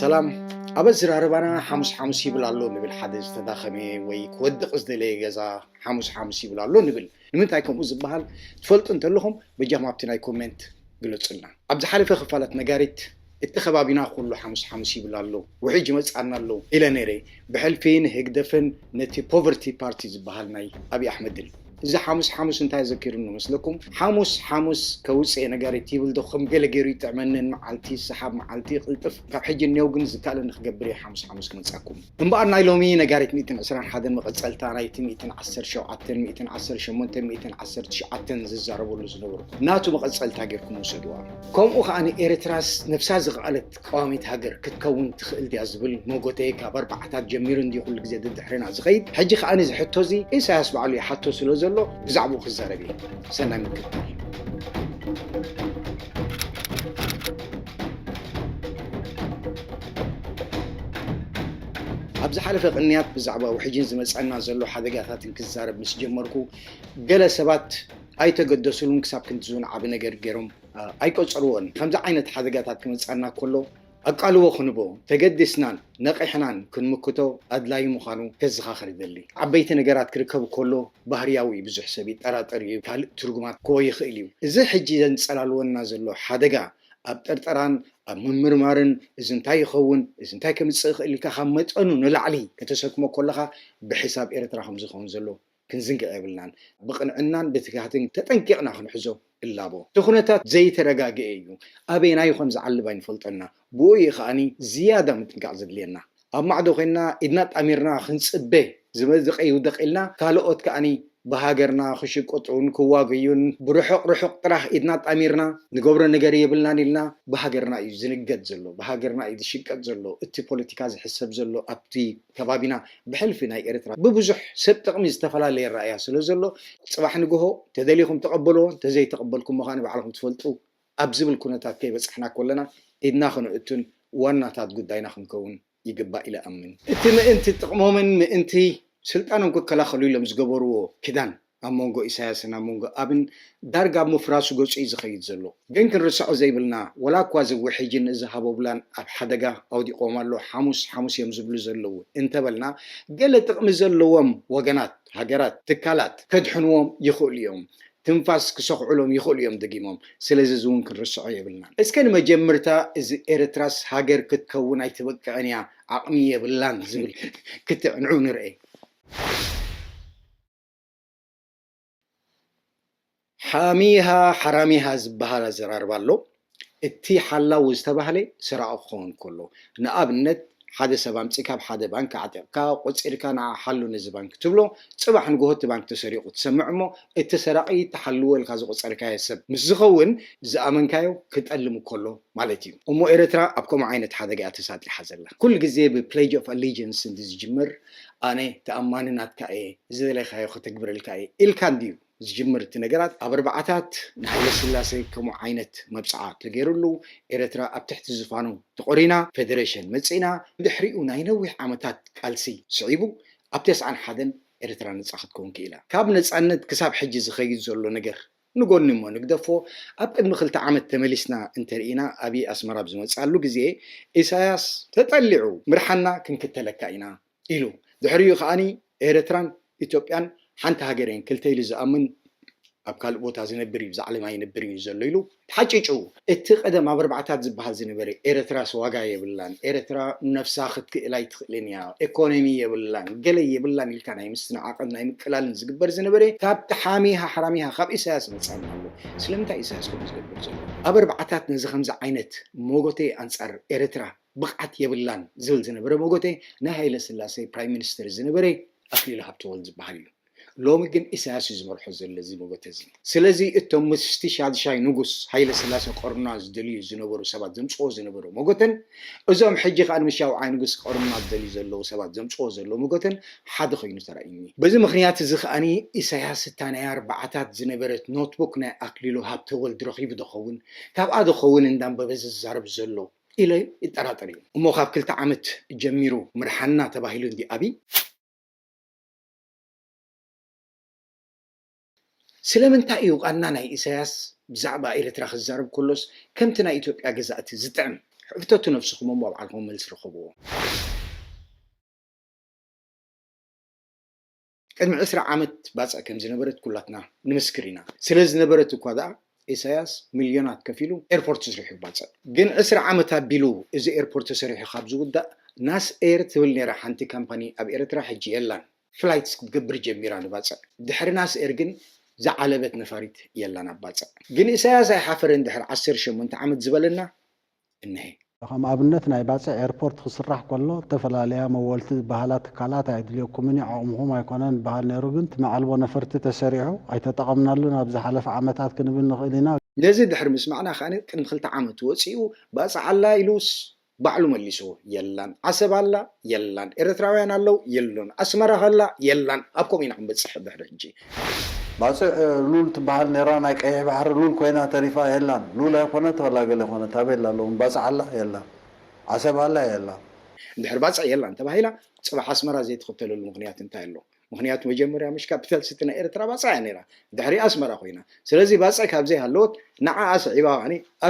ሰላም ኣብ ኣዝራርባና ሓሙስ ሓሙስ ይብል ኣሎ ንብል ሓደ ዝተዳኸመ ወይ ክወድቕ ዝደለየ ገዛ ሓሙስ ሓሙስ ይብል ኣሎ ንብል ንምንታይ ከምኡ ዝበሃል ትፈልጡ እንተለኹም በጃኹም ኣብቲ ናይ ኮሜንት ግለጹልና ኣብ ዝሓለፈ ክፋላት ነጋሪት እቲ ከባቢና ኩሉ ሓሙስ ሓሙስ ይብል ኣሎ ውሕጅ ይመጽኣና ኣሎ ኢለ ነይረ ብሕልፊ ንህግደፍን ነቲ ፖቨርቲ ፓርቲ ዝበሃል ናይ ኣብይ ኣሕመድን። እዚ ሓሙስ ሓሙስ እንታይ ኣዘኪሩኒ መስለኩም? ሓሙስ ሓሙስ ከውጽእ'የ ነጋሪት ይብል ዶ ከም ገለ ጌሩ ይጥዕመኒ ን መዓልቲ ሰሓብ መዓልቲ ቅልጥፍ ካብ ሕጂ ኔው ግን ዝካኣለኒ ክገብር እየ ሓሙስ ሓሙስ ክመጻኩም። እምበኣር ናይ ሎሚ ነጋሪት ሚእትን ዕስራን ሓደን መቐጸልታ ናይቲ ሚእትን ዓሰርተ ሸውዓተን ሚእትን ዓሰርተ ሸሞንተን ሚእትን ዓሰርተ ትሽዓተን ዝዛረበሉ ዝነበርኩ ናቱ መቐጸልታ ጌርኩም ውሰድዋ። ከምኡ ከኣ ን ኤረትራስ ነብሳ ዝኸኣለት። ቀዋሚት ሃገር ክትከውን ትኽእል ድያ ዝብል ሞጎተ ካብ ኣርባዓታት ጀሚሩ እንድዩ ኩሉ ግዜ ደድሕርና ዝኸይድ። ሕጂ ከኣ ነዚ ሕቶ እዚ ኢሳያስ ባዕሉ ይሓቶ ስለ ዘሎ ብዛዕብኡ ክዛረብ እየ። ሰናይ ምክትታል። ኣብ ዝሓለፈ ቅንያት ብዛዕባ ውሕጅን ዝመጸና ዘሎ ሓደጋታትን ክዛረብ ምስ ጀመርኩ ገለ ሰባት ኣይተገደሱሉን ክሳብ ክንድዚ እውን ዓቢ ነገር ገይሮም ኣይቆጸርዎን። ከምዚ ዓይነት ሓደጋታት ክመጽኣና ከሎ ኣቃልቦ ክንቦ፣ ተገዲስናን ነቒሕናን ክንምክቶ ኣድላዪ ምዃኑ ከዘኻኽር ይደሊ። ዓበይቲ ነገራት ክርከብ ከሎ ባህርያዊ'ዩ፣ ብዙሕ ሰብ ይጠራጠር'ዩ፣ ካልእ ትርጉማት ክህቦ ይኽእል'ዩ። እዚ ሕጂ ዘንጸላልወና ዘሎ ሓደጋ ኣብ ጥርጠራን ኣብ ምምርማርን እዚ እንታይ ይኸውን፣ እዚ እንታይ ከምጽእ ይኽእል ኢልካ ካብ መጠኑ ንላዕሊ ከተሰክሞ ከለኻ ብሕሳብ ኤርትራ ከም ዝኸውን ዘለዎ ክንዝንግዕ የብልናን። ብቕንዕናን ብትግሃትን ተጠንቂቕና ክንሕዞ እላቦ። እቲ ኩነታት ዘይተረጋገኤ እዩ። ኣበየናዩ ከም ዝዓልብ ኣይንፈልጦንና። ብኡ እዩ ከኣ ዝያዳ ምጥንቃቕ ዘድልየና። ኣብ ማዕዶ ኮይንና ኢድና ኣጣሚርና ክንጽበ ዝመዝቕ ይውደቕ ኢልና ካልኦት ከኣ ብሃገርና ክሽቅጡን ክዋገዩን ብርሑቕ ርሑቕ ጥራህ ኢድና ኣጣሚርና ንገብሮ ነገር የብልናን ኢልና ብሃገርና እዩ ዝንገድ ዘሎ። ብሃገርና እዩ ዝሽቀጥ ዘሎ። እቲ ፖለቲካ ዝሕሰብ ዘሎ ኣብቲ። ከባቢና ብሕልፊ ናይ ኤርትራ ብብዙሕ ሰብ ጥቕሚ ዝተፈላለየ ኣራእያ ስለ ዘሎ ጽባሕ ንግሆ ተደሊኹም ተቐበልዎ እንተዘይተቐበልኩሞ ከኣ ባዕልኹም ትፈልጡ ኣብ ዝብል ኩነታት ከይበጻሕና ኮለና ኢድና ክንእቱን ዋናታት ጉዳይና ክንከውን ይግባእ ኢለ እኣምን። እቲ ምእንቲ ጥቕሞምን ምእንቲ ስልጣኖም ክከላኸሉ ኢሎም ዝገበርዎ ክዳን ኣብ መንጎ ኢሳያስን ኣብ መንጎ ኣብን ዳርጋ ኣብ ምፍራሱ ገጹ እዩ ዝኸይድ ዘሎ። ግን ክንርስዖ ዘይብልና ወላ እኳ እዚ ውሕጅን እዚ ሃቦብላን ኣብ ሓደጋ ኣውዲቕዎም ኣሎ ሓሙስ ሓሙስ እዮም ዝብሉ ዘለዉ እንተበልና ገለ ጥቕሚ ዘለዎም ወገናት፣ ሃገራት፣ ትካላት ከድሕንዎም ይኽእሉ እዮም። ትንፋስ ክሰኹዑሎም ይኽእሉ እዮም ደጊሞም። ስለዚ እዚ እውን ክንርስዖ የብልናን። እስከ ንመጀምርታ እዚ ኤርትራስ ሃገር ክትከውን ኣይትበቅዕን እያ ዓቕሚ የብላን ዝብል ክትዕንዑ ንርኤ። ሓሚሃ ሓራሚሃ ዝበሃል ኣዘራርባ ኣሎ። እቲ ሓላዊ ዝተባህለ ሰራቒ ክኸውን ከሎ። ንኣብነት ሓደ ሰብ ኣምጺእካ ኣብ ሓደ ባንክ ኣዕጢቕካ ቆጺርካ ንዓ ሓሉ ነዚ ባንክ ክትብሎ ጽባሕ ንግሆ እቲ ባንክ ተሰሪቑ ትሰምዕ እሞ እቲ ሰራቒ እቲ ሓልዎ ኢልካ ዝቖጸርካዮ ሰብ ምስ ዝኸውን ዝኣመንካዮ ክጠልም ከሎ ማለት እዩ። እሞ ኤረትራ ኣብ ከምኡ ዓይነት ሓደጋ እያ ተሳጢሓ ዘላ። ኩሉ ግዜ ብ pledge of allegiance እንድዝጅምር። ኣነ ተኣማኒ ናትካ እየ፣ ዝደለኻዮ ከተግብረልካ እየ ኢልካ እንድዩ ዝጅምር እቲ ነገራት፣ ኣብ ኣርባዓታት ንሃይለስላሰ ከምኡ ዓይነት መብጽዓ ተገይርሉ፣ ኤረትራ ኣብ ትሕቲ ዝፋኑ ተቖሪና ፈደረሸን መጺእና፣ ድሕሪኡ ናይ ነዊሕ ዓመታት ቃልሲ ስዒቡ ኣብ ተስዓን ሓደን ኤረትራ ነጻ ክትከውን ክኢላ። ካብ ነጻነት ክሳብ ሕጂ ዝኸይድ ዘሎ ነገር ንጎኒ እሞ ንግደፎ ኣብ ቅድሚ ክልተ ዓመት ተመሊስና እንተርኢና ኣብይ ኣስመራ ኣብ ዝመጽኣሉ ግዜ ኢሳያስ ተጠሊዑ ምርሓና ክንክተለካ ኢና ኢሉ ድሕሪኡ ከኣ ኤረትራን ኢትዮጵያን ሓንቲ ሃገር እየን ክልተ ኢሉ ዝኣምን ኣብ ካልእ ቦታ ዝነብር እዩ ብዛዕለማ ኣይነብርን እዩ ዘሎ ኢሉ ተሓጪጩ እቲ ቀደም ኣብ ኣርባዓታት ዝብሃል ዝነበረ ኤረትራስ ዋጋ የብላን ኤረትራ ነብሳ ክትክእል ኣይትክእልን ኢያ ኤኮነሚ የብላን ገለ የብላን ኢልካ ናይ ምስትናዓቅን ናይ ምቅላልን ዝግበር ዝነበረ ካብቲ ሓሚሃ ሓራሚሃ ካብ ኢሳያስ መጻና ኣሎ ስለምንታይ ኢዩ ኢሳያስ ከምኡ ዝገብር ዘሎ ኣብ ኣርባዓታት ነዚ ከምዚ ዓይነት ሞጎተ ኣንጻር ኤረትራ ብቅዓት የብላን ዝብል ዝነበረ ሞጎተ ናይ ሃይለስላሴ ፕራይም ሚኒስተር ዝነበረ ኣክሊሉ ሃብተወልድ ዝብሃል ኢዩ። ሎሚ ግን ኢሳያስ እዩ ዝመርሖ ዘሎ እዚ መጎተ እዚ። ስለዚ እቶም ምስቲ ሻድሻይ ንጉስ ሃይለስላሰ ክቐርኑና ዝደልዩ ዝነበሩ ሰባት ዘምጽዎ ዝነበሩ መጎተን እዞም ሕጂ ከኣ ንምስ ሻውዓይ ንጉስ ክቐርኑና ዝደልዩ ዘለዉ ሰባት ዘምጽዎ ዘለዉ መጎተን ሓደ ኮይኑ ተራእዩኒ። በዚ ምኽንያት እዚ ከኣ ኢሳያስ እታ ናይ ኣርባዓታት ዝነበረት ኖትቡክ ናይ ኣክሊሉ ሃብተወልድ ረኺቡ ዶኸውን ካብኣ ዶኸውን እንዳንበበ ዝዛረብ ዘሎ ኢለ ይጠራጠር እየ። እሞ ካብ ክልተ ዓመት ጀሚሩ ምርሓና ተባሂሉ እንድዩ ኣብይ። ስለምንታይ ኢዩ ቃና ናይ ኢሳያስ ብዛዕባ ኤርትራ ክዛረብ ከሎስ ከምቲ ናይ ኢትዮጵያ ገዛእቲ ዝጥዕም? ሕተቱ ነብስኹም እሞ ባዕልኹም መልሲ ርኸብዎ። ቅድሚ ዕስራ ዓመት ባጽዕ ከምዝነበረት ኩላትና ንምስክር ኢና። ስለዝነበረት እኳ ደኣ ኢሳያስ ሚልዮናት ከፊሉ ኤርፖርት ስሪሑ ይባጽዕ ግን ዕስራ ዓመት ኣቢሉ እዚ ኤርፖርት ተሰሪሑ ካብ ዝውዳእ ናስ ኤር ትብል ኔራ ሓንቲ ካምፓኒ ኣብ ኤረትራ ሕጂ የላን ፍላይትስ ክትገብር ጀሚራ ንባጽዕ ድሕሪ ናስ ኤር ግን ዝዓለበት ነፋሪት የላን ኣብ ባጽዕ ግን ኢሳያስ ኣይሓፈረን ድሕሪ ዓሰርተ ሸሞንተ ዓመት ዝበለና እነሄ። ከም ኣብነት ናይ ባጽዕ ኤርፖርት ክስራሕ ከሎ እተፈላለያ መወልቲ ዝበሃላ ትካላት ኣየድልየኩምን እዩ ዓቕምኹም ኣይኮነን ይበሃል ነይሩ ግን እቲ መዓልቦ ነፈርቲ ተሰሪዑ ኣይተጠቐምናሉን ኣብ ዝሓለፈ ዓመታት ክንብል ንኽእል ኢና። ነዚ ድሕሪ ምስማዕና ከኣ ቅድሚ ክልተ ዓመት ወጺኡ ባጽዕ ኣላ ኢሉስ ባዕሉ መሊስዎ የላን ዓሰብ ኣላ የላን ኤረትራውያን ኣለው የሉን ኣስመራ ከላ የላን ኣብ ከምኡ ኢና ክንበጽሕ ድሕሪ ሕጂ። ባጽዕ ሉል ትበሃል ኔራ ናይ ቀይሕ ባሕሪ ሉል ኮይና ተሪፋ የላን ሉል ኣይኮነት ዋላ ገለ ኮነ ታቤላ ሎሚ ባጽዕ ኣላ የላን ዓሰብ ኣላ የላን። እንድሕር ባጽዕ የላን ተባሂላ ጽባሕ ኣስመራ ዘይትኽተለሉ ምኽንያት እንታይ ኣሎ ምኽንያቱ መጀመርያ ምሽ ካፒታል ሲቲ ናይ ኤርትራ ባጽዕ እያ ኔራ ድሕሪኣ ኣስመራ ኮይና ስለዚ ባጽዕ ካብ ዘይሃለወት ንዓኣ ስዒባ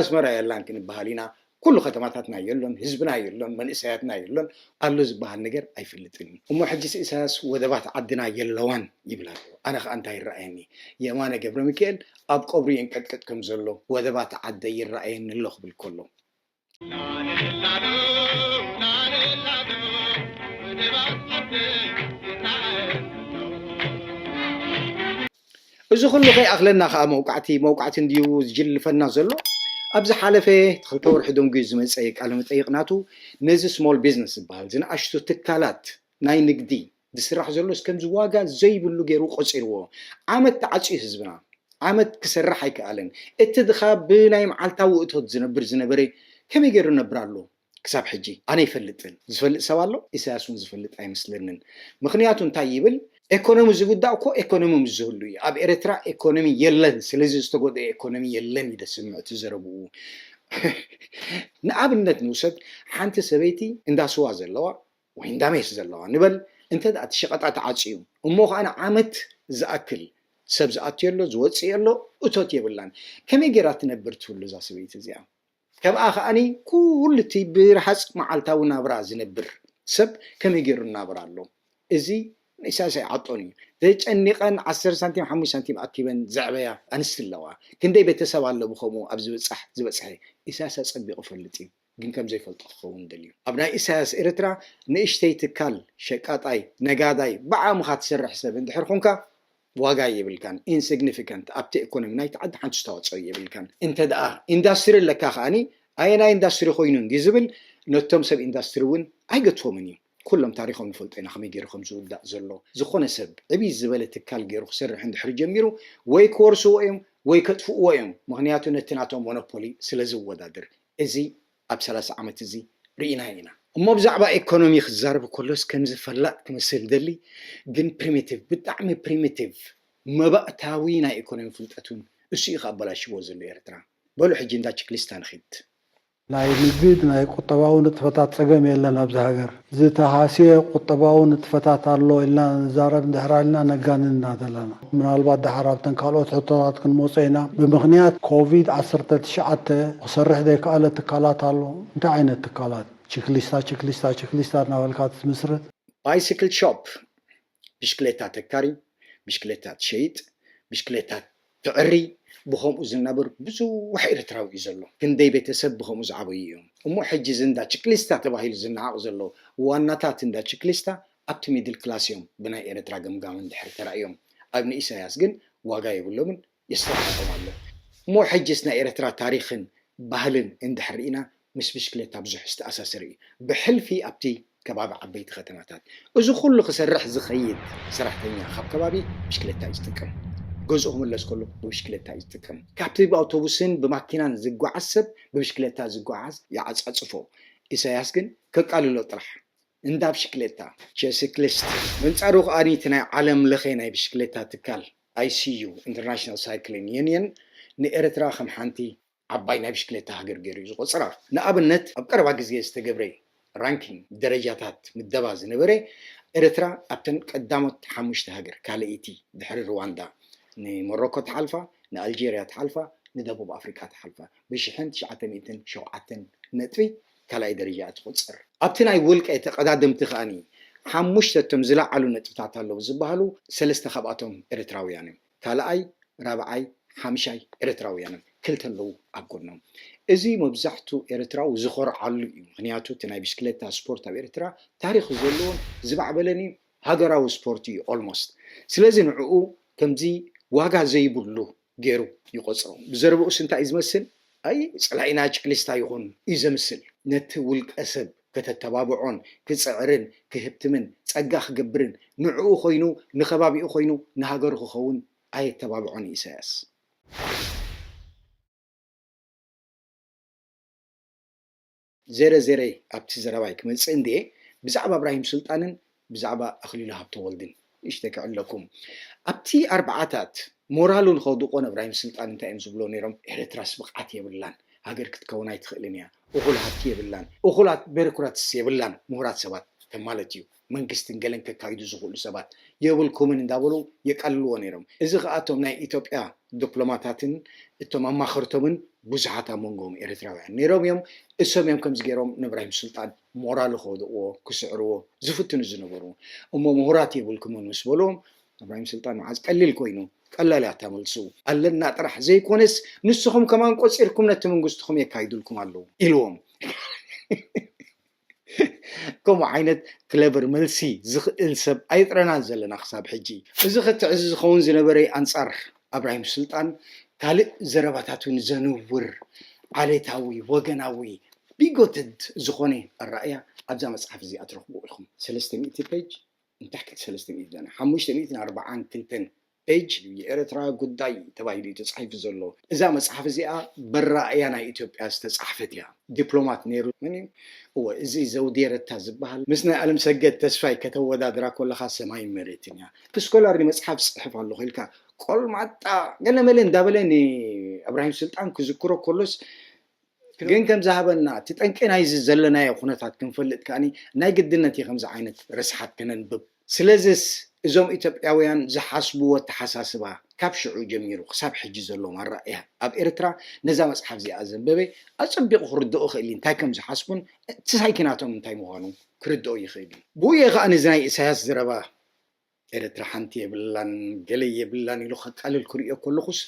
ኣስመራ የላን ክንበሃል ኢና ኩሉ ከተማታትና የሎን ህዝብና የሎን መንእሰያትና የሎን ኣሎ ዝብሃል ነገር ኣይፈልጥን እዩ እሞ ሕጂስ ኢሳያስ ወደባት ዓድና የለዋን ይብል ኣሎ ኣነ ከኣ እንታይ ይረኣየኒ የማነ ገብረሚካኤል ኣብ ቀብሩ የንቀጥቅጥ ከም ዘሎ ወደባት ዓደይ ይረኣየኒ ኣሎ ክብል ከሎ እዚ ኩሉ ከይኣኽለና ከኣ መውቃዕቲ መውቃዕቲ እንድዩ ዝጅልልፈና ዘሎ። ኣብ ዝሓለፈ ክልተ ወርሒ ደንጉዩ ዝመጸ ቃለመጠይቕ ናቱ ነዚ ስሞል ቢዝነስ ዝበሃል ዝንኣሽቱ ትካላት ናይ ንግዲ ዝስራሕ ዘሎስ ከምዚ ዋጋ ዘይብሉ ገይሩ ቆጺርዎ። ዓመት ተዓጽዩ ህዝብና ዓመት ክሰርሕ ኣይከኣለን። እቲ ድኻ ብናይ መዓልታዊ እቶት ዝነብር ዝነበረ ከመይ ገይሩ ይነብር ኣሎ? ክሳብ ሕጂ ኣነ ኣይፈልጥን ዝፈልጥ ሰብ ኣሎ ኢሳያስ ውን ዝፈልጥ ኣይመስለንን ምኽንያቱ እንታይ ይብል ኤኮኖሚ ዝጉዳእ እኮ ኤኮኖሚ ምስ ዝህሉ እዩ ኣብ ኤረትራ ኤኮኖሚ የለን ስለዚ ዝተጎደኤ ኤኮኖሚ የለን እዩ ደስምዕ እቲ ዘረብኡ ንኣብነት ንውሰድ ሓንቲ ሰበይቲ እንዳ ስዋ ዘለዋ ወይ እንዳ ሜስ ዘለዋ ንበል እንተ እቲ ሸቀጣ ተዓጽዩ እሞ ከኣ ንዓመት ዝኣክል ሰብ ዝኣትዮ ኣሎ ዝወጽእ ኣሎ እቶት የብላን ከመይ ጌራ ትነብር ትህሉ እዛ ሰበይቲ እዚኣ ከምኣ ከኣ ኩሉ እቲ ብረሃጽ መዓልታዊ ናብራ ዝነብር ሰብ ከመይ ጌሩ ይናበር ኣሎ እዚ ንኢሳያስ ኣይዓጦን እዩ ተጨኒቀን ዓሰርተ ሳንቲም ሓሙሽተ ሳንቲም ኣኪበን ዘዕበያ ኣንስቲ ኣለዋ ክንደይ ቤተሰብ ኣሎ ብከምኡ ኣብ ዝብጻሕ ዝበጽሐ ኢሳያስ ኣጸቢቁ ይፈልጥ እዩ ግን ከምዘይፈልጦ ክከውን ደልዩ ኣብ ናይ ኢሳያስ ኤርትራ ንእሽተይ ትካል ሸቃጣይ ነጋዳይ ብዓቅምካ ትሰርሕ ሰብ እንድሕር ኮንካ ዋጋ የብልካን ኢንስግኒፊካንት ኣብቲ ኤኮኖሚ ናይቲ ዓዲ ሓንቲ ኣስተዋጽኦ የብልካን እንተ ደኣ ኢንዳስትሪ ኣለካ ከኣ ኣየናይ ኢንዳስትሪ ኮይኑ እንድዩ ዝብል ነቶም ሰብ ኢንዳስትሪ ውን ኣይገትዎምን እዩ ኩሎም ታሪኾም ንፈልጦ ኢና ከመይ ጌሩ ከም ዝውዳእ ዘሎ ዝኾነ ሰብ ዕብይ ዝበለ ትካል ጌሩ ክሰርሕ እንድሕሪ ጀሚሩ ወይ ክወርስዎ እዮም ወይ ከጥፍእዎ እዮም ምኽንያቱ ነቲ ናቶም ሞኖፖሊ ስለ ዝወዳደር እዚ ኣብ ሰላሳ ዓመት እዚ ርኢናዮ ኢና። እሞ ብዛዕባ ኤኮኖሚ ክዛረብ ከሎስ ከምዚ ፈላጥ ክመስል ይደሊ ግን ፕሪሚቲቭ ብጣዕሚ ፕሪሚቲቭ መባእታዊ ናይ ኤኮኖሚ ፍልጠት ውን እሱ እዩ ከኣበላሽዎ ዘሎ ኤርትራ። በሉ ሕጂ እንዳ ችክሊስታ ንኺድ። ናይ ንግድ ናይ ቁጠባዊ ንጥፈታት ጸገም የለን ኣብዚ ሃገር። ዝተሃስየ ቁጠባዊ ንጥፈታት ኣሎ ኢልና ንዛረብ እንድሕር ኣልና ነጋንን ኢና ዘለና። ምናልባት ደሓር ኣብተን ካልኦት ሕቶታት ክንመጾ ኢና። ብምኽንያት ኮቪድ ዓሰርተ ትሽዓተ ክሰርሕ ዘይከኣለ ትካላት ኣሎ? እንታይ ዓይነት ትካላት? ችክሊስታ ችክሊስታ ችክሊስታ እናበልካ ትምስርት? ባይስክል ሾፕ ብሽክሌታ ተካሪ፣ ብሽክሌታ ትሸይጥ፣ ብሽክሌታ ተዕሪ ብኸምኡ ዝናበር ብዙሕ ኤርትራዊ እዩ ዘሎ። ክንደይ ቤተሰብ ብኸምኡ ዝዓበዩ እዮም። እሞ ሕጂ እዚ እንዳ ችክሊስታ ተባሂሉ ዝነዓቕ ዘሎ ዋናታት እንዳ ችክሊስታ ኣብቲ ሚድል ክላስ እዮም ብናይ ኤርትራ ገምጋም እንድሕር ተራእዮም ኣብ ንኢሳያስ ግን ዋጋ የብሎምን የስተማቅሮም ኣሎ እሞ ሕጅስ ናይ ኤረትራ ታሪኽን ባህልን እንድሕር ሪኢና ምስ ብሽክለታ ብዙሕ ዝተኣሳሰር ኢዩ ብሕልፊ ኣብቲ ከባቢ ዓበይቲ ከተማታት እዚ ኩሉ ክሰርሕ ዝኸይድ ሰራሕተኛ ካብ ከባቢ ብሽክለታ ኢዩ ዝጥቀም ገዝኡ ክምለስ ከሎ ብብሽክለታ ኢዩ ዝጥቀም ካብቲ ብኣውቶቡስን ብማኪናን ዝጓዓዝ ሰብ ብብሽክለታ ዝጓዓዝ ይዓጻጽፎ ኢሳያስ ግን ከቃልሎ ጥራሕ እንዳ ብሽክሌታ፣ ቸስክሊስት፣ በንጻሩ ከኣ እቲ ናይ ዓለም ለኸ ናይ ብሽክሌታ ትካል፣ ICU፣ ኢንተርናሽናል ሳይክሊን ዩንየን፣ ንኤርትራ ከም ሓንቲ ዓባይ ናይ ብሽክሌታ ሃገር ገይሩ እዩ ዝቖጽራ። ንኣብነት ኣብ ቀረባ ግዜ ዝተገብረ ራንኪንግ፣ ደረጃታት ምደባ፣ ዝነበረ ኤርትራ ኣብተን ቀዳሞት ሓሙሽተ ሃገር፣ ካልኣይቲ ድሕሪ ርዋንዳ፣ ንሞሮኮ ተሓልፋ፣ ንኣልጀርያ ተሓልፋ፣ ንደቡብ ኣፍሪቃ ተሓልፋ፣ ብሽሕን ትሽዓተ ሚእትን ሸውዓተን ነጥቢ። ካልኣይ ደረጃ ትቑጽር። ኣብቲ ናይ ውልቀ ተቐዳደምቲ ከኣ ሓሙሽተ እቶም ዝለዓሉ ነጥብታት ኣለዉ ዝበሃሉ ሰለስተ ካብኣቶም ኤርትራውያን እዮም። ካልኣይ፣ ራብዓይ፣ ሓምሻይ ኤርትራውያን እዮም። ክልተ ኣለዉ ኣብ ጎኖም። እዚ መብዛሕቱ ኤርትራዊ ዝኾርዓሉ እዩ። ምኽንያቱ እቲ ናይ ብሽክለታ ስፖርት ኣብ ኤርትራ ታሪኽ ዘለዎን ዝማዕበለን እዩ። ሃገራዊ ስፖርት እዩ ኦልሞስት። ስለዚ ንዕኡ ከምዚ ዋጋ ዘይብሉ ገይሩ ይቖጽሮ። ብዘረባኡስ እንታይ እዩ ዝመስል? ኣይ ጸላኢና ጭክሊስታ ይኹን እዩ ዘምስል። ነቲ ውልቀሰብ ከተተባብዖን ክጽዕርን ክህብትምን ጸጋ ክገብርን ንዕኡ ኮይኑ ንከባቢኡ ኮይኑ ንሃገሩ ክኸውን ኣየተባብዖን እዩ ኢሳያስ። ዜረ ዜረ ኣብቲ ዘረባይ ክመጽእ እንድየ ብዛዕባ እብራሂም ሱልጣንን ብዛዕባ ኣኽሊሉ ሃብተወልድን ንእሽተይ ክዕለኩም ኣብቲ ኣርብዓታት ሞራሉ ንኸውድቆ ንእብራሂም ሱልጣን እንታይ እዮም ዝብልዎ ኔሮም ኤረትራስ ብቕዓት የብላን ሃገር ክትከውን ኣይትኽእልን እያ እኹል ሃብቲ የብላን እኹላት ቤሮክራትስ የብላን ሙሁራት ሰባት ከም ማለት እዩ መንግስትን ገለን ከካይዱ ዝኽእሉ ሰባት የብልኩምን እንዳበሉ የቃልልዎ ነይሮም። እዚ ከኣ እቶም ናይ ኢትዮጵያ ዶፕሎማታትን እቶም ኣማኸርቶምን ብዙሓት ኣብ መንጎኦም ኤረትራውያን ነይሮም እዮም። እሶም እዮም ከምዚ ገይሮም ንብራሂም ሱልጣን ሞራሉ ክወድቕዎ ክስዕርዎ ዝፍትኑ ዝነበሩ። እሞ ምሁራት የብልኩምን ምስ በልዎም እብራሂም ሱልጣን መዓዝ ቀሊል ኮይኑ። ቀላል እያ እታ መልሱ። ኣለና ጥራሕ ዘይኮነስ ንስኹም ከማን ቆጺርኩም ነቲ መንግስትኹም የካይዱልኩም ኣለዉ ኢልዎም። ከምኡ ዓይነት ክለቨር መልሲ ዝኽእል ሰብ ኣይጥረናን ዘለና ክሳብ ሕጂ። እዚ ክትዕ እዚ ዝኸውን ዝነበረይ ኣንጻር ኣብራሂም ሱልጣን ካልእ ዘረባታት እውን ዘንውር ዓሌታዊ ወገናዊ ቢጎትድ ዝኾነ ኣራእያ ኣብዛ መጽሓፍ እዚኣ ትረኽብዎ ኢኹም ሰለስተ ሚእቲ ፔጅ ንታሕቲ ሰለስተ ሚእቲ ሓሙሽተ ሚእትን ኣርባዓን ክልተን ፔጅ እዩ የኤረትራ ጉዳይ ተባሂሉ እዩ ተጻሒፉ ዘሎ እዛ መጽሓፍ እዚኣ በራእያ ናይ ኢትዮጵያ ዝተጻሕፈት እያ ዲፕሎማት ኔሩ መን እዩ እወ እዚ ዘውዴ ረታ ዝብሃል ምስ ናይ ኣለምሰገድ ተስፋይ ከተወዳድራ ኮለኻ ሰማይን መሬትን እያ እቲ ስኮላር ንመጽሓፍ ዝጽሕፍ ኣሎኹ ኢልካ ቆልማጣ ገለ መለ እንዳበለ ንእብራሂም ስልጣን ክዝክሮ ኮሎስ ግን ከም ዝሃበና እቲ ጠንቂ ናይዚ ዘለናዮ ኩነታት ክንፈልጥ ከኣ ናይ ግድነት እዩ ከምዚ ዓይነት ርስሓት ከነንብብ። ስለዝስ እዞም ኢትዮጵያውያን ዝሓስብዎ ኣተሓሳስባ ካብ ሽዑ ጀሚሩ ክሳብ ሕጂ ዘሎ ኣራእያ ኣብ ኤርትራ ነዛ መጽሓፍ እዚኣ ዘንበበ ኣጸቢቑ ክርድኦ ይኽእል እዩ እንታይ ከም ዝሓስቡን እቲ ሳይኪናቶም እንታይ ምዃኑ ክርድኦ ይኽእል እዩ። ብኡ እየ ከኣ ነዚ ናይ ኢሳያስ ዘረባ ኤርትራ ሓንቲ የብላን ገለ የብላን ኢሉ ከቃልል ክርእዮ ከለኹስ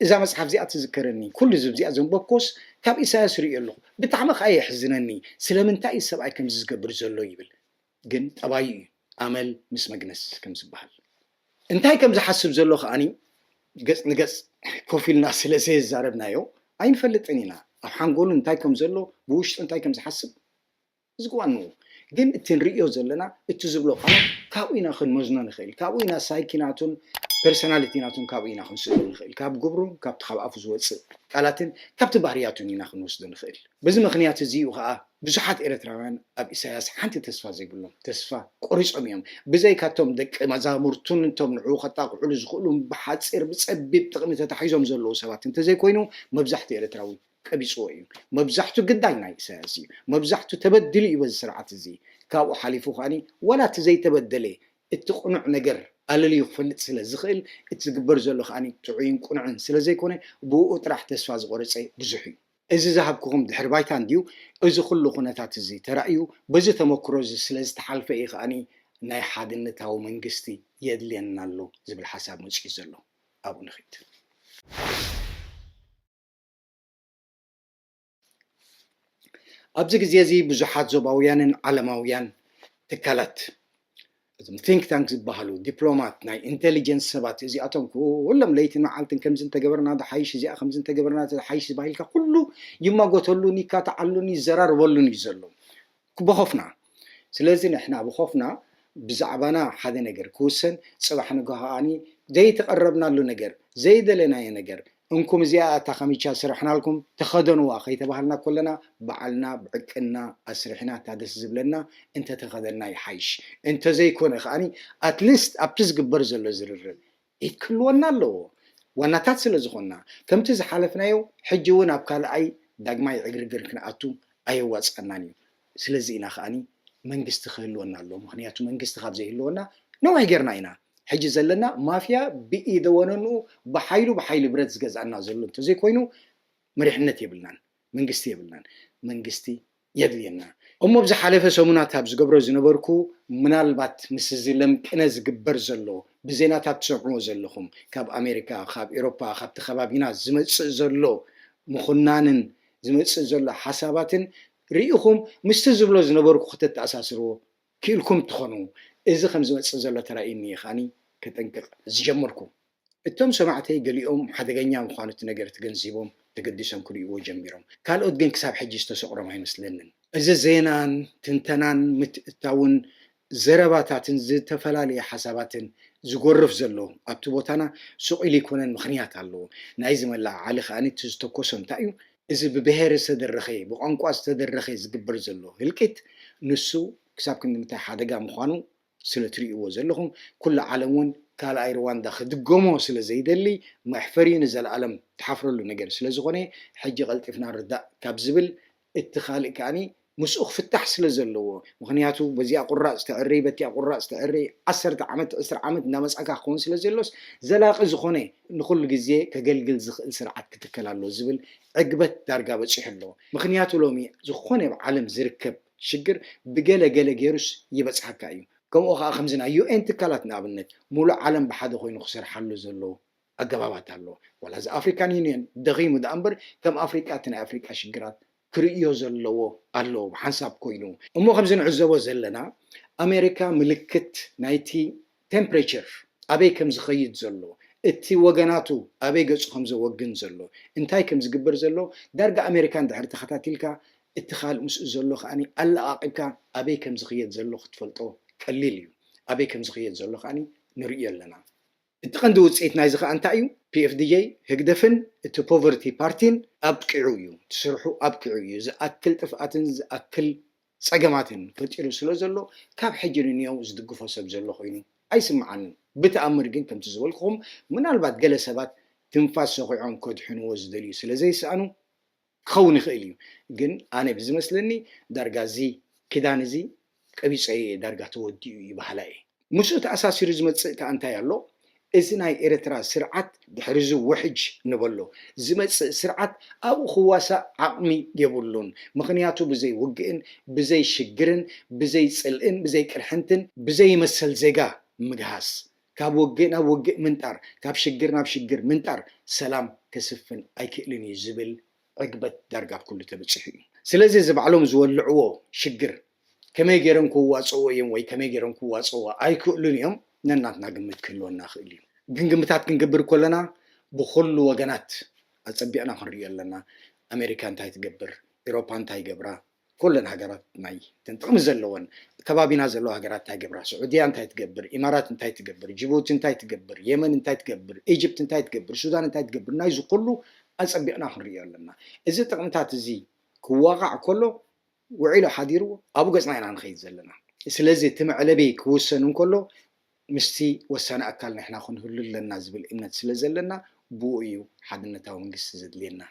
እዛ መጽሓፍ እዚኣ ትዝከረኒ ኩሉ እዚ እዚኣ ዘንበብኮስ ካብ ኢሳያስ ርእዮ ኣለኹ ብጣዕሚ ከኣ የሕዝነኒ ስለምንታይ እዩ ሰብኣይ ከምዚ ዝገብር ዘሎ ይብል ግን ጠባዩ እዩ ኣመል ምስ መግነስ ከም ዝበሃል እንታይ ከም ዝሓስብ ዘሎ ከኣኒ ገጽ ንገጽ ኮፍ ኢልና ስለ ዘየዛረብናዮ ኣይንፈልጥን ኢና ኣብ ሓንጎሉ እንታይ ከም ዘሎ ብውሽጡ እንታይ ከም ዝሓስብ እዚ'ኳ እንሆ፣ ግን እቲ ንርእዮ ዘለና፣ እቲ ዝብሎ ቃላት ካብኡ ኢና ክንመዝኖ ንኽእል፣ ካብኡ ኢና ሳይኪ ናቱን ፐርሰናሊቲ ናቱን ካብኡ ኢና ክንስእኖ ንኽእል፣ ካብ ግብሩን ካብቲ ካብ ኣፉ ዝወጽእ ቃላትን ካብቲ ባህርያቱን ኢና ክንወስዶ ንኽእል። በዚ ምኽንያት እዚ'ዩ ከኣ ብዙሓት ኤርትራውያን ኣብ ኢሳያስ ሓንቲ ተስፋ ዘይብሎም፣ ተስፋ ቆሪጾም እዮም፣ ብዘይካ'ቶም ደቂ መዛሙርቱን እቶም ንዕኡ ከጣቕዑሉ ዝኽእሉን ብሓጺር ብጸቢብ ጥቕሚ ተታሒዞም ዘለዉ ሰባት እንተዘይኮይኑ መብዛሕትኡ ኤርትራዊ ቀቢጽዎ እዩ መብዛሕቱ ግዳይ ናይ ኢሳያስ እዩ መብዛሕቱ ተበዲሉ እዩ በዚ ስርዓት እዚ ካብኡ ሓሊፉ ከኣ ዋላ እቲ ዘይተበደለ እቲ ቅኑዕ ነገር ኣለልዩ ክፈልጥ ስለ ዝኽእል እቲ ዝግበር ዘሎ ከኣ ጥዑይን ቅኑዕን ስለ ዘይኮነ ብእኡ ጥራሕ ተስፋ ዝቖረጸ ብዙሕ እዩ። እዚ ዝሃብኩኹም ድሕሪ ባይታ እንድዩ እዚ ኩሉ ኩነታት እዚ ተራእዩ በዚ ተመኩሮ እዚ ስለ ዝተሓልፈ እዩ ከኣ ናይ ሓድነታዊ መንግስቲ የድልየና ኣሎ ዝብል ሓሳብ መጺኡ ዘሎ ኣብኡ ንኺድ። ኣብዚ ግዜ እዚ ብዙሓት ዞባውያንን ዓለማውያን ትካላት እዞም ቲንክ ታንክ ዝበሃሉ ዲፕሎማት ናይ ኢንቴሊጀንስ ሰባት እዚኣቶም ኩሎም ለይትን መዓልትን ከምዚ እንተገበርና ዝሓይሽ እዚኣ ከምዚ እንተገበርና ዝሓይሽ ዝባሂልካ ኩሉ ይማጎተሉን ይካትዓሉን ይዘራርበሉን እዩ ዘሎ ብኾፍና ስለዚ ንሕና ብኾፍና ብዛዕባና ሓደ ነገር ክውሰን ጽባሕ ንግሆ ከኣ ዘይተቐረብናሉ ነገር ዘይደለናዮ ነገር እንኩም እዚኣ እያ እታ ካሚቻ ስርሕናልኩም ተኸደንዋ ከይተባሃልና ኮለና ባዕልና ብዕቅንና ኣስሪሕና እታ ደስ ዝብለና እንተተኸደንና ይሓይሽ እንተዘይኮነ ከኣ ኣትሊስት ኣብቲ ዝግበር ዘሎ ዝርርብ ኢድ ክህልወና ኣለዎ ዋናታት ስለ ዝኾንና። ከምቲ ዝሓለፍናዮ ሕጂ ውን ኣብ ካልኣይ ዳግማይ ዕግርግር ክንኣቱ ኣየዋጽኣናን እዩ። ስለዚ ኢና ከኣ መንግስቲ ክህልወና ኣለዎ ምኽንያቱ መንግስቲ ካብ ዘይህልወና ነዊሕ ጌርና ኢና። ሕጂ ዘለና ማፍያ ብኢደ ወነንኡ ብሓይሉ ብሓይሊ ብረት ዝገዝኣና ዘሎ እንተዘይኮይኑ መሪሕነት የብልናን። መንግስቲ የብልናን መንግስቲ የድልየና። እሞ ኣብ ዝሓለፈ ሰሙናት ኣብ ዝገብሮ ዝነበርኩ ምናልባት ምስ እዚ ለም ቅነ ዝግበር ዘሎ ብዜናታት ትሰምዕዎ ዘለኹም ካብ ኣሜሪካ ካብ ኤሮፓ ካብቲ ከባቢና ዝመጽእ ዘሎ ምኹናንን ዝመጽእ ዘሎ ሓሳባትን ርኢኹም ምስቲ ዝብሎ ዝነበርኩ ከተተኣሳስርዎ ክኢልኩም ትኾኑ እዚ ከም ዝመጽእ ዘሎ ተራእዩኒ ከኣ ከጠንቅቅ ዝጀመርኩ። እቶም ሰማዕተይ ገሊኦም ሓደገኛ ምዃኑ እቲ ነገር ተገንዚቦም ተገዲሶም ክርእይዎ ጀሚሮም። ካልኦት ግን ክሳብ ሕጂ ዝተሰቑሮም ኣይመስለንን። እዚ ዜናን ትንተናን ምትእትታውን ዘረባታትን ዝተፈላለየ ሓሳባትን ዝጎርፍ ዘሎ ኣብቲ ቦታና ሱቕ ኢሉ ኣይኮነን ምኽንያት ኣለዎ። ናይዚ መለዓዓሊ ከኣ እቲ ዝተኮሶ እንታይ እዩ? እዚ ብብሄር ዝተደረኸ ብቋንቋ ዝተደረኸ ዝግበር ዘሎ ህልቂት ንሱ ክሳብ ክንድምንታይ ሓደጋ ምዃኑ ስለ ትሪእዎ ዘለኹም ኩሉ ዓለም ውን ካልኣይ ርዋንዳ ክድገሞ ስለ ዘይደሊ መሕፈሪ ንዘልኣለም ትሓፍረሉ ነገር ስለ ዝኾነ ሕጂ ቀልጢፍና ንርዳእ ካብ ዝብል እቲ ካልእ ከኣ ምስኡ ክፍታሕ ስለ ዘለዎ ምኽንያቱ በዚኣ ቁራጽ ተዕሪ በቲኣ ቁራጽ ተዕሪ ዓሰርተ ዓመት ዕስራ ዓመት እንዳመጻእካ ክኸውን ስለ ዘሎስ ዘላቂ ዝኾነ ንኹሉ ግዜ ከገልግል ዝኽእል ስርዓት ክትከል ኣሎ ዝብል ዕግበት ዳርጋ በጺሑ ኣሎ ምኽንያቱ ሎሚ ዝኾነ ኣብ ዓለም ዝርከብ ሽግር ብገለ ገለ ጌሩስ ይበጽሓካ እዩ ከምኡ ከኣ ከምዚ ናይ UN ትካላት ንኣብነት ሙሉእ ዓለም ብሓደ ኮይኑ ክሰርሓሉ ዘለዎ ኣገባባት ኣሎ ዋላ እዚ ኣፍሪካን ዩንዮን ደኺሙ ደኣ እምበር ከም ኣፍሪቃ እቲ ናይ ኣፍሪቃ ሽግራት ክርእዮ ዘለዎ ኣሎ ብሓንሳብ ኮይኑ እሞ ከምዚ ንዕዘቦ ዘለና ኣሜሪካ ምልክት ናይቲ ቴምፕሬቸር ኣበይ ከም ዝኸይድ ዘሎ፣ እቲ ወገናቱ ኣበይ ገጹ ከም ዘወግን ዘሎ፣ እንታይ ከም ዝግበር ዘሎ ዳርጋ ኣሜሪካ እንድሕር ተኸታቲልካ እቲ ካልእ ምስኡ ዘሎ ከኣ ኣለቓቒብካ ኣበይ ከም ዝኽየድ ዘሎ ክትፈልጦ ቀሊል እዩ። ኣበይ ከም ዝኽየድ ዘሎ ከኣ ንርእዮ ኣለና። እቲ ቀንዲ ውጽኢት ናይዚ ከኣ እንታይ እዩ? PFDJ፣ ህግደፍን እቲ ፖቨርቲ ፓርቲን ኣብቂዑ እዩ። እቲ ስርሑ ኣብቂዑ እዩ። ዝኣክል ጥፍኣትን ዝኣክል ጸገማትን ፈጢሩ ስለ ዘሎ ካብ ሕጂ ንንየው ዝድግፎ ሰብ ዘሎ ኮይኑ ኣይስምዓንን ብተኣምር ግን ከምቲ ዝበልኩኹም ምናልባት ገለ ሰባት ትንፋስ ሰዂዖም ከድሕንዎ ዝደልዩ ስለ ዘይሰኣኑ ክኸውን ይኽእል እዩ ግን ኣነ ብዝመስለኒ ዳርጋ እዚ ክዳን እዚ ቀቢጸዮ እየ ዳርጋ ተወዲኡ እዩ በሃላይ እየ። ምስኡ ተኣሳሲሩ ዝመጽእ ከኣ እንታይ ኣሎ እዚ ናይ ኤረትራ ስርዓት ድሕሪ እዚ ውሕጅ ንበሎ ዝመጽእ ስርዓት ኣብኡ ክዋሳእ ዓቅሚ የብሉን ምኽንያቱ ብዘይ ውግእን ብዘይ ሽግርን ብዘይ ጽልእን ብዘይ ቅርሕንትን ብዘይ መሰል ዜጋ ምግሃስ ካብ ውግእ ናብ ውግእ ምንጣር ካብ ሽግር ናብ ሽግር ምንጣር ሰላም ከስፍን ኣይክእልን እዩ ዝብል ዕግበት ዳርጋ ኣብ ኩሉ ተበጺሑ እዩ። ስለዚ እዚ ባዕሎም ዝወልዕዎ ሽግር ከመይ ገይሮም ከዋጽእዎ እዮም ወይ ከመይ ገይሮም ክዋጽእዎ ኣይክእሉን እዮም ነናትና ግምት ክህልወና ይኽእል እዩ። ግን ግምታት ክንገብር ከሎና ብኹሉ ወገናት ኣጸቢቕና ክንርእዮ ኣለና። ኣሜሪካ እንታይ ትገብር? ኤሮፓ እንታይ ይገብራ? ኮለን ሃገራት ናይ እተን ጥቕሚ ዘለወን ከባቢና ዘለዋ ሃገራት እንታይ ይገብራ? ስዑድያ እንታይ ትገብር? ኢማራት እንታይ ትገብር? ጂቡቲ እንታይ ትገብር? የመን እንታይ ትገብር? ኢጅፕት እንታይ ትገብር? ሱዳን እንታይ ትገብር? ናይዚ ኩሉ ኣጸቢቕና ክንርእዮ ኣለና። እዚ ጥቕምታት እዚ ክዋቓዕ ከሎ ውዒሉ ሓዲሩ ኣብኡ ገጽና ኢና ንኸይድ ዘለና። ስለዚ እቲ መዕለቢ ክውሰን እንከሎ ምስቲ ወሳኒ ኣካል ንሕና ክንህሉ ኣለና ዝብል እምነት ስለ ዘለና ብኡ እዩ ሓድነታዊ መንግስቲ ዘድልየና።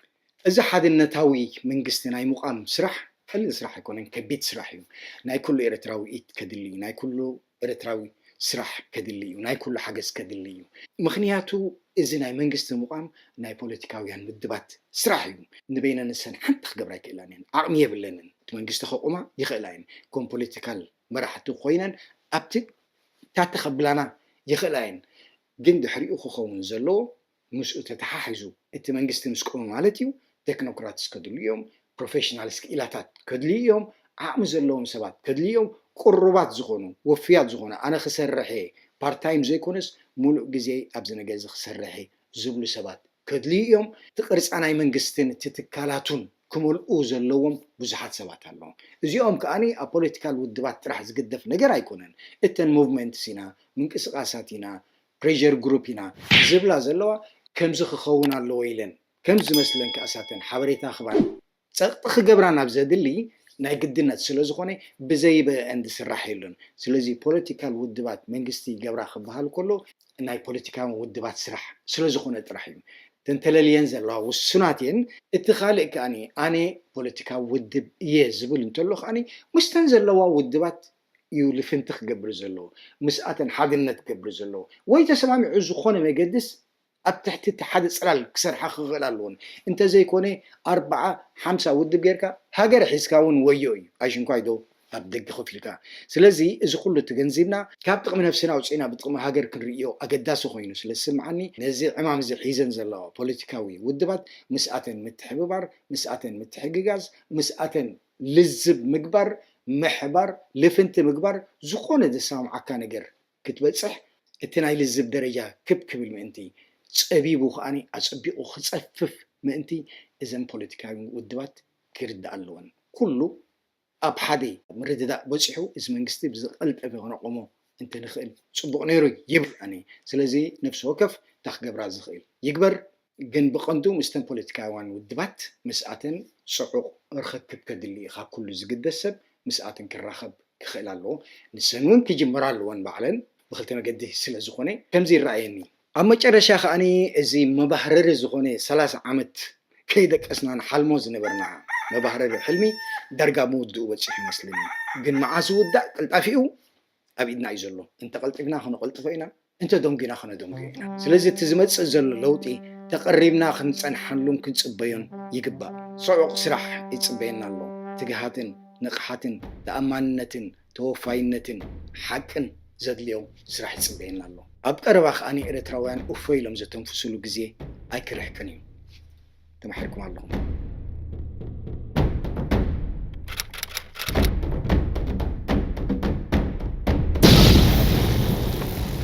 እዚ ሓድነታዊ መንግስቲ ናይ ምቛም ስራሕ ቀሊል ስራሕ ኣይኮነን፣ ከቢድ ስራሕ እዩ። ናይ ኩሉ ኤርትራዊ ኢድ ከድሊ እዩ፣ ናይ ኩሉ ኤርትራዊ ስራሕ ከድሊ እዩ፣ ናይ ኩሉ ሓገዝ ከድሊ እዩ። ምኽንያቱ እዚ ናይ መንግስቲ ምቛም ናይ ፖለቲካውያን ውድባት ስራሕ እዩ። ንበይነን ንሰን ሓንቲ ክገብራ ኣይክእላን እየን፣ ዓቕሚ የብለንን። እቲ መንግስቲ ከቑማ ይኽእላ እየን፣ ከም ፖለቲካል መራሕቲ ኮይነን ኣብቲ። ፍታቲ ከብላና ይኽእላ እየን ግን ድሕሪኡ ክኸውን ዘለዎ ምስኡ ተተሓሒዙ እቲ መንግስቲ ምስ ቆመ ማለት እዩ ተክኖክራትስ ከድልዩ እዮም፣ ፕሮፌሽናልስ ክኢላታት ከድልዩ እዮም፣ ዓቕሚ ዘለዎም ሰባት ከድልዩ እዮም፣ ቅሩባት ዝኾኑ ወፍያት ዝኾኑ ኣነ ክሰርሕ እየ ፓርታይም ዘይኮነስ ሙሉእ ግዜይ ኣብዚ ነገርዚ ክሰርሕ እየ ዝብሉ ሰባት ከድልዩ እዮም። እቲ ቅርጻ ናይ መንግስትን እቲ ትካላቱን ክመልኡ ዘለዎም ብዙሓት ሰባት ኣለዉ። እዚኦም ከኣ ኣብ ፖለቲካል ውድባት ጥራሕ ዝግደፍ ነገር ኣይኮነን። እተን ሞቭመንትስ ኢና፣ ምንቅስቓሳት ኢና፣ ፕሬዠር ግሩፕ ኢና ዝብላ ዘለዋ፣ ከምዚ ክኸውን ኣለዎ ኢለን ከም ዝመስለን ከኣ እሳተን ሓበሬታ ክህባ ጸቕጢ ክገብራ ናብ ዘድሊ ናይ ግድነት ስለ ዝኾነ ብዘይበእን ዝስራሕ የሎን። ስለዚ ፖለቲካል ውድባት መንግስቲ ይገብራ ክበሃል ከሎ ናይ ፖለቲካውያን ውድባት ስራሕ ስለ ዝኾነ ጥራሕ እዩ ተንተለልየን ዘለዋ ውሱናት እየን። እቲ ካልእ ከኣ ኣነ ፖለቲካዊ ውድብ እየ ዝብል እንተሎ ከኣ ምስተን ዘለዋ ውድባት እዩ ልፍንቲ ክገብር ዘለዎ ምስኣተን ሓድነት ክገብር ዘለዎ ወይ ተሰማሚዑ ዝኾነ መገድስ ኣብ ትሕቲ እቲ ሓደ ጽላል ክሰርሓ ክኽእላ ኣለወን። እንተ ዘይኮነ ኣርብዓ ሓምሳ ውድብ ጌርካ ሃገር ሒዝካ እውን ወዮ እዩ። ኣይሽንኳይ ዶ ኣብ ደገ ኮፍ ኢልካ። ስለዚ እዚ ኩሉ ተገንዚብና፣ ካብ ጥቕሚ ነብስና ኣውጺእና ብጥቕሚ ሃገር ክንርእዮ ኣገዳሲ ኮይኑ ስለ ዝስምዓኒ ነዚ ዕማም እዚ ሒዘን ዘለዋ ፖለቲካዊ ውድባት ምስኣተን ምትሕብባር ምስኣተን ምትሕግጋዝ ምስኣተን ልዝብ ምግባር ምሕባር ልፍንቲ ምግባር ዝኾነ ዘሰማምዓካ ነገር ክትበጽሕ እቲ ናይ ልዝብ ደረጃ ክብ ክብል ምእንቲ፣ ጸቢቡ ከኣ ኣጸቢቑ ክጸፍፍ ምእንቲ እዘን ፖለቲካዊ ውድባት ክርድኣ ኣለወን። ኩሉ ኣብ ሓደ ምርድዳእ በጺሑ እዚ መንግስቲ ብዝቐልጠፈ ክነቖሞ እንተ ንኽእል ጽቡቕ ነይሩ ይብል ኣነ። ስለዚ ነፍሲ ወከፍ እታ ክገብራ ዝኽእል ይግበር። ግን ብቐንዱ ምስተን ፖለቲካውያን ውድባት ምስኣተን ጽዑቕ ርኽክብ ከድሊ እዩ። ካብ ኩሉ ዝግደስ ሰብ ምስኣተን ክራኸብ ክኽእል ኣለዎ። ንሰን እውን ክጅምራ ኣለወን ባዕለን ብክልተ መገዲ ስለ ዝኾነ ከምዚ ይረኣየኒ። ኣብ መጨረሻ ከኣ እዚ መባህረሪ ዝኾነ ሰላሳ ዓመት ከይደቀስና ንሓልሞ ዝነበርና መባህረሪ ሕልሚ ዳርጋ ምውድኡ በጺሑ ይመስለኒ። ግን መዓስ ዝውዳእ ቅልጣፊኡ ኣብ ኢድና እዩ ዘሎ። እንተ ቐልጢፍና ከነቐልጥፎ ኢና፣ እንተ ደንጒና ከነደንጉዮ ኢና። ስለዚ እቲ ዝመጽእ ዘሎ ለውጢ ተቐሪብና ክንጸንሓሉን ክንጽበዮን ይግባእ። ጽዑቕ ስራሕ ይጽበየና ኣሎ፣ ትግሃትን ንቕሓትን ተኣማንነትን ተወፋይነትን ሓቅን ዘድልዮ ስራሕ ይጽበየና ኣሎ። ኣብ ቀረባ ከኣ ኤረትራውያን እፎይ ኢሎም ዘተንፍሱሉ ግዜ ኣይክርሕቅን እዩ። ተማሒርኩም ኣለኹም።